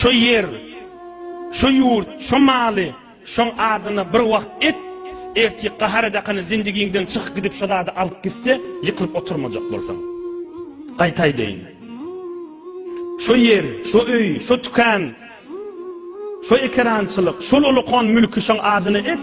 Şo ýer, şo ýurt, şo maly şoň adyna bir wagt et, ertir gahar edakany zindigiňden çykyp gidip şo zady alyp gitse, ýykylyp oturmajak bolsaň. Gaýta aýdaýyn. Şo ýer, şo öý, şo tükan, şo ekerançylyk, şol ulukon mülki şoň adyna et.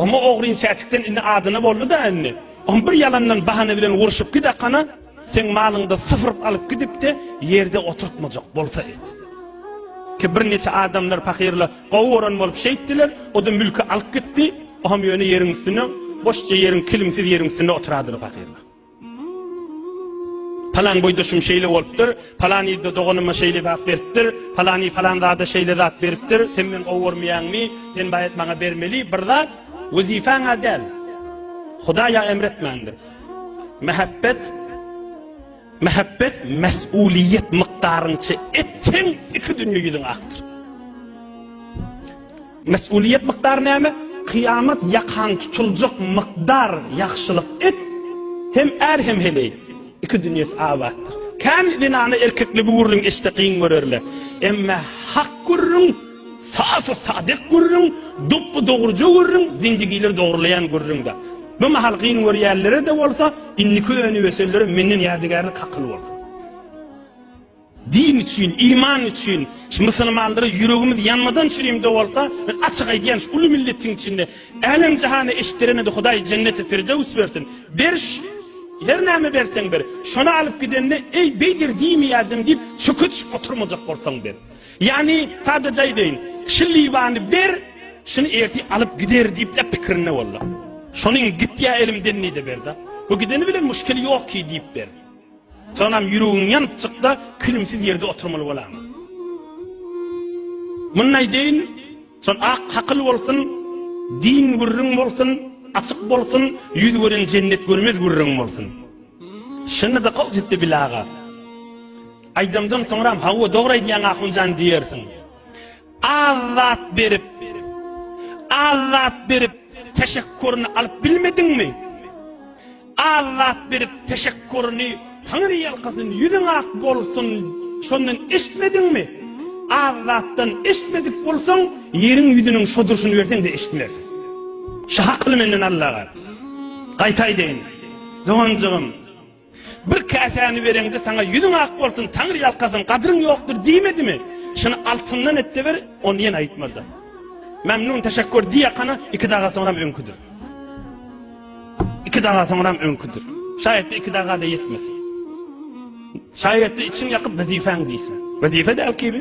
Oňa ogryn çäçikden indi adyna boldy-da indi. Oň bir ýalandan bahana bilen urşup gidakana, Seň malyňda syfyryp alyp gidipde ýerde oturtmajak bolsa et. Ki bir neçe adamlar pakirle gowy oran bolup şeýtdiler, o da mülki alyp gitdi, o hem ýöne ýeriň üstüne, boşça ýeriň kilimsiz ýeriň üstünde oturadylar pakirle. Palan boýda şum şeýle bolupdyr, palan ýerde doganyma şeýle zat beripdir, palan ýerde palan zada şeýle zat beripdir, sen men gowy ormaýaňmy, sen baýat maňa bermeli, bir zat, wezifaňa däl. Hudaýa emretmändir. Mähebbet Mähebbet mesuliýet mykdaryňça etseň iki dünýä ýüzüň akdyr. Mesuliýet mykdary näme? Kyýamat ýakan tutuljak mykdar ýagşylyk et, hem är hem heleý. Iki dünýäsi abatdyr. Kän zenany erkekli gürrüň eşde gyň görerler. Emma hak gürrüň Safy sadyk gürrüň, dopbu-dogruja gürrüň, zindigileri dogrulaýan gürrüňdä. Bu mahal gyn görýänlere-de bolsa, indiki öni-ösenlere menden ýadygärlik hakyl bolsun. Din üçin, iman üçin, şu musulmanlara ýüregimiz ýanmadan çürimde bolsa, men açyk aýdýan, şu uly milletiň içinde älem-jahana eşitdiremedi, Hudaý jenneti firdöws bersin. Beriş, her näme berseň ber, şony alyp gidende, eý, beýder diýmeýärdim diýip, çöke düşüp oturmajak bolsaň ber. Ýagny, sadaja aýdaýyn, şu libany ber, şuny ertir alyp gider diýip-le pikirinde bol-da. Şonuň git ýa elimden diý-de ber-de. Bu gideni bilen muşkil ýok ki diýip ber. Soňam ýüregiň ýanyp çyk-da, külümsiz ýerde oturmaly bolaňa. Muny aýdaýyn, şol ak hakyl bolsun, din gürrüň bolsun, açyk bolsun, ýüz gören jennet görmez gürrüň bolsun. Şunda-da gowy ýetdi Bilaga. Aýdymdan soňram hawa dogry aýdýaň Ahunjan diýersiň. Az zat berip, az zat berip teşekkuryny alyp bilmediňmi? Az zat berip teşekkuryny Taňry ýalkasyn, ýüzüň ak bolsun, şondan eşitmediňmi? Az zatdan eşitmedik bolsaň, ýeriň ýüzüniň şo durşuny berseň-de eşitmersiň. Şu hakyny menden al aga. Gaýtaýdaýyn. Doganjygym, Bir käsäni bereňde saňa ýüzüň ak bolsun, Taňry ýalkasyn, gadryň ýokdur diýmedimi? Şuny altyndan et-de ber, ony ýene aýtmady. Memnun teşekkür diýakana iki daga soňram öňküdir. Iki daga soňram öňküdir. Şaýatda iki daga-da ýetmesin. Şaýatda içiň ýakyp wezifäň diýse. Wezife däl kibi.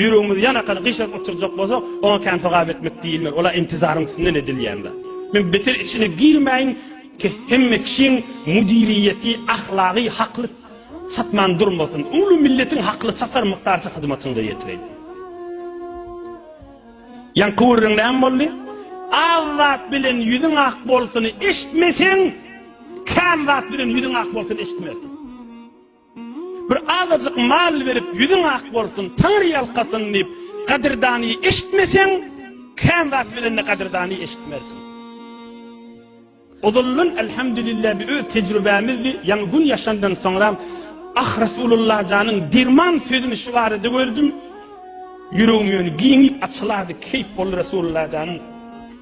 Ýüregimizi ýan akany gyşaryp oturjak bolsak, oňa kän sogap etmek diýilmez, ol-a intizaryň üstünden edilýän zat. Men beter içine girmäýin, hemme kişiň müdiriýeti, ahlagy hakly satman durmasyn, uly milletiň hakly satar mukdarça hyzmatyňda ýetireýin. Ýaňky gürrüň näme boldy? Az zat bilen ýüzüň ak bolsuny eşitmeseň, kän zat bilen ýüzüň ak bolsuny eşitmersiň. Bir azajyk mal berip ýüzüň ak bolsun, Taňry ýalkasyn diýip, gadyrdany eşitmeseň, kän zat bilen-de gadyrdany eşitmersiň. Ozaldan Elhamdülillah bi öz tejrübämizdi, ýaňy gün ýaşandan soňram Ah Rasulullah janyň derman sözüni şu barada gördüm. Ýüregim ýöne giňip açylardy, keýp boldy Rasulullah janyň.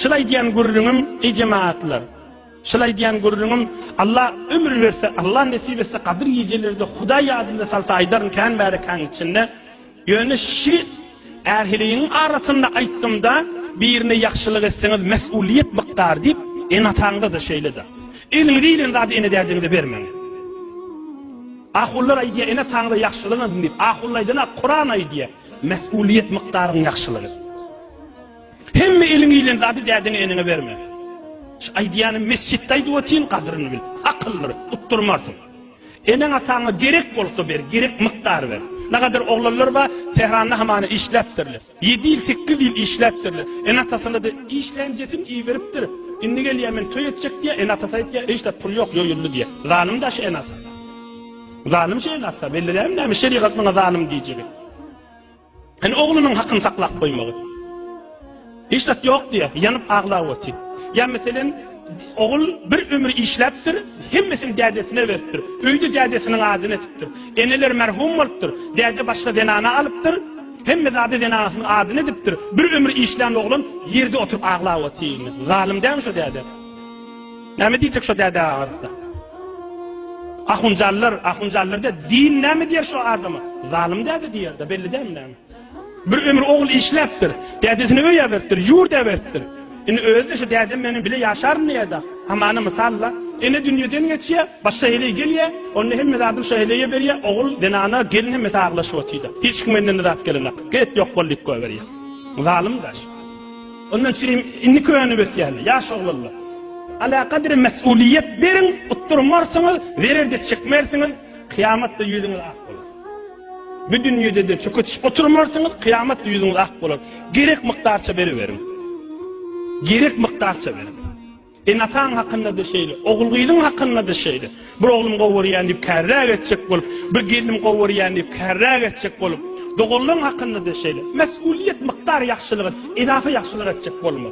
Şul aýdýan gürrüňim eý jemagatlar. Şul aýdýan gürrüňim Alla ömür berse, Alla nesip etse gadyr gijelerde Hudaý ýadynda salsa aýdaryn kän märekäň içinde. Ýöne şi ähiliň arasynda aýtdymda birine ýagşylyk etseňiz mes'ulyýet bykdar diýip ene-ataňyza-da şeýle-de. Eliňize ilen zady ene-dädiňize bermäň. Ahunlar aýdýar ene-ataňyza ýagşylyk ediň diýip. Ahunlar aýdana Kuran aýdýar. Mes'ulyýet mykdaryň ýagşylyk et. Hemme eliňe ilen zady dädiňe-eneňe berme. Şu aýdýanym mesjitde aýdyp otyryn, gadyryny bil. Akyldyr, utdurmarsyň. Eneň-ataňa gerek bolsa ber, gerek mukdar ber. Nagadyr oglanlar bar, Tähranda hamana işläpdirler. Ýedi ýyl, sekiz ýyl işläpdirler. Ene-atasyna-da işlänjesini iberipdir. Indi gelýär, men toý etjek diýýär, ene-atasy aýtýar, hiç zat pul ýok, ýoýuldy diýýär. Zalym-da şu ene-ata. Zalym şu ene-ata, belliräýmmi näme şerigat muňa zalym diýjegi. Ene oglunyň hakyny saklap goýmagy. Hiç zat ýok diýe, ýanyp aglap otyr. Ýa meselem, ogul bir ömür işläpdir, hemmesini dädesine beripdir. Öýde dädesiniň adyny edipdir. Eneler merhum bolupdyr, däde başga zenana alypdyr, hemme zady zenanasynyň adyny edipdir. Bir ömür işlän oglan ýerde oturyp aglap otyr. Zalym dälmi şo däde? Näme diýjek şo däde agyrda. Ahunjallar, ahunjallar de din näme diýer şo adama? Zalym däde diýerde, belli dämi näme? Bir ömür ogul işläpdir, dädesini öýe beripdir, ýurt eberipdir. Indi özi şu dädem meniň bile ýaşaryn diýerde. Hamana mysalla, ene dünýeden geçýär, başga heleý gelýär, onda hem zadyny şu heleýe berýär, ogul zenana gelin hem aglaşyp otyrda. Hiç kim menden zat gelenok. Get ýok bol diýip goýberýär. Zalym daş. Onda çirim indi köne besýäne, ýaş oglanlar. Alakadere mesulyýet beriň, utdurmarsyňyz, zerer-de çekmersiňiz, kyýamatda ýüzüňiz ak bolar. Bu dünýede-de çöketişip oturmarsyňyz, kyýamatda ýüzüňiz ak bolar. Gerek mukdarça beriberiň. Gerek mukdarça beriň. Enataň hakynda-da şeýle, ogul-gyzyň hakynda-da şeýle. Bir oglum gowy görýän diýip kärräk etjek bolup, bir gelnim gowy görýän diýip kärräk etjek bolup, doganlaryň hakynda-da şeýle. Mesgulyýet mukdar ýagşylygy edafa ýagşylyk etjek bolma.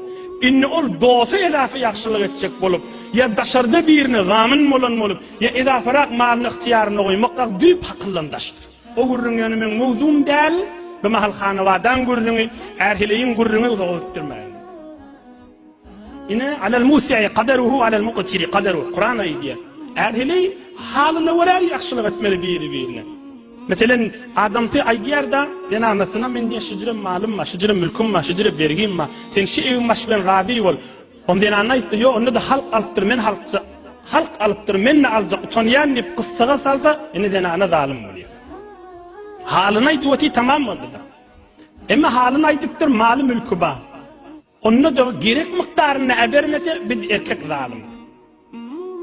Indi ol dosta edafa ýagşylyk etjek bolup, ýa daşarda birine zamin bolan bolup, ýa edafarak malyny ygtyýarynda goýmakak düýp hakyldan daşdyr. O gürrüň ýöne meň mowzugym däl. Bimahal Hanabadaň gürrüňi, Ärheleýiň gürrüňi uzaga gitdirmäýin. Ine, alel musiýi kaderuhu alel muqtiri kaderuhu. Kuran aýdýar. Ähli halyna görä ýagşylyk etmeli biri-birine. Meselen, adamsy aýdýar-da, zenanasyna men diýýär, şüjre malym bar, şüjre mülküm bar, şüjre bergim bar. Sen şu ewiň başy bilen razy bol. Onda zenana aýtsa, ýok, onda-da halk alypdyr, men halkja, halk alypdyr, men-de aljak, utanýan diýip, gyssaga salsa, ine zenana zalym bolýar. Halyny aýdyp otyr, tamam boldy-da. Emma halyny aýdypdyr, maly-mülki bar. Onda-da gerek mukdarynda äbermese biz erkek zalym.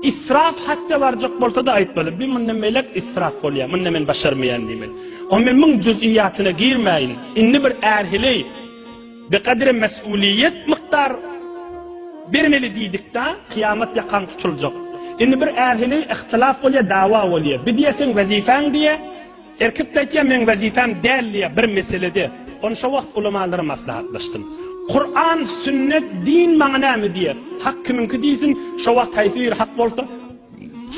Israf hatda barjak bolsa-da aýtmaly, bi munda melek israf bolýar, munda men başarmaýan diýmeli. O men muň juz'iyyatyna girmäýin. Indi bir är heleý bi gadri mes'uliýet mukdar bermeli diýdikdä, kyýamat ýakaň tutuljak. Indi bir är heleý ihtilaf bolýar, dawa bolýar. Bi diýersiň wezifäň diýýär. Erkek-de aýtýar, meň wezipäm däl diýýär, bir meselede. Ony şo wagt ulamalara maslahatlaşdym. Kuran, sünnet, din maňa näme diýer? Hak kimiňki diýsin, şo wagt haýsy biri hak bolsa,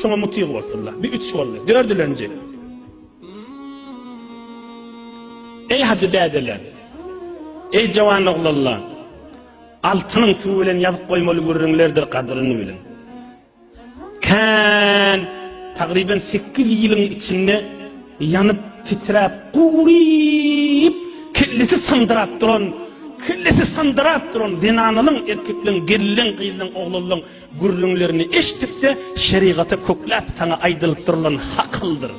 şoňa mutyg bolsunlar. Bu üç boldy. Dördülenji. Eý hajy dädeler! Eý jawan oglanlar! Altynyň suwy bilen ýazyp goýmaly gürrüňlerdir gadyryny biliň. Kän, tagryban sekiz ýylyň içinde ýanyp, titräp, guryp, kellesi syndyrap duran, kellesi syndyrap duran zenanalaň, erkeklaň, gelin-leň, gyzlaň, oglanlaň gürrüňlerini eşidip-de, şerigata kökläp, saňa aýdylyp durulan hakyldyr,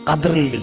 gadyryn bil.